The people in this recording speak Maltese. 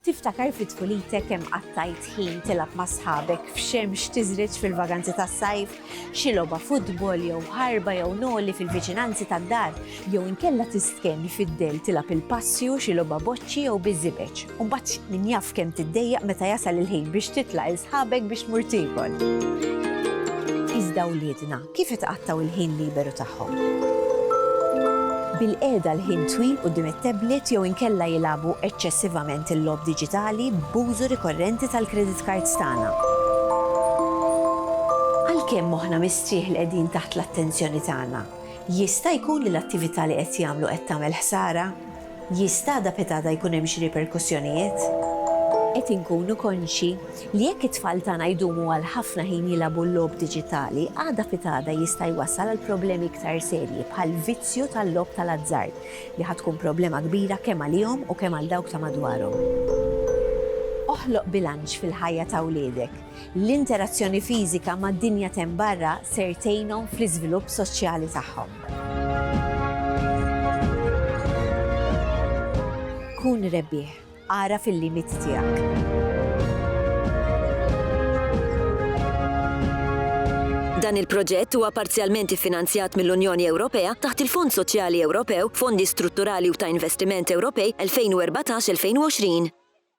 Tiftakar fi tfulitek kemm qattajt ħin tilgħab ma' sħabek f'xemx tiżriġ fil-vaganzi tas-sajf? Xi logħba futbol jew ħarba jew noli fil-viċinanzi tad-dar? Jew inkella tistkenni fid-dell tilgħab il-passju, xi logħba boċċi jew biż-żibeġ? U mbagħad min jaf kemm tiddejjaq meta jasal il-ħin biex titla' 'l sħabek biex tmur tiekol? Iżda wliedna, Kif itqattgħu l-ħin liberu tagħhom? Bil-qiegħda l-ħin twil quddiem it-tablet jew inkella jilagħbu eċċessivament il-logħob diġitali b'użu rikorrenti tal-credit cards tagħna. Għalkemm moħħna mistrieħ li qegħdin taħt l-attenzjoni tagħna, jista' jkun li l-attività li qed jagħmlu qed tagħmel ħsara? Jista' da pitada jkun hemm xi riperkussjonijiet? Qed inkunu konxji li jekk it-tfal tagħna jdumu għal ħafna ħin jilagħbu l-logħob diġitali, għada pitada jista' jwassal għal problemi iktar serji bħal vizzju tal-logħob tal-azzard li ħa tkun problema kbira kemm għalihom u kemm għal dawk ta' madwarhom. Oħloq bilanċ fil-ħajja ta' wliedek. L-interazzjoni fiżika mad-dinja t'hemm barra ser tgħinhom fl-iżvilupp soċjali tagħhom. Kun rebbieħ. Agħraf il-limiti tiegħek. Dan il-proġett huwa parzjalment iffinanzjat mill-Unjoni Ewropea taħt il-Fond Soċjali Ewropew, Fondi Strutturali u ta' Investiment Ewropej 2014-2020.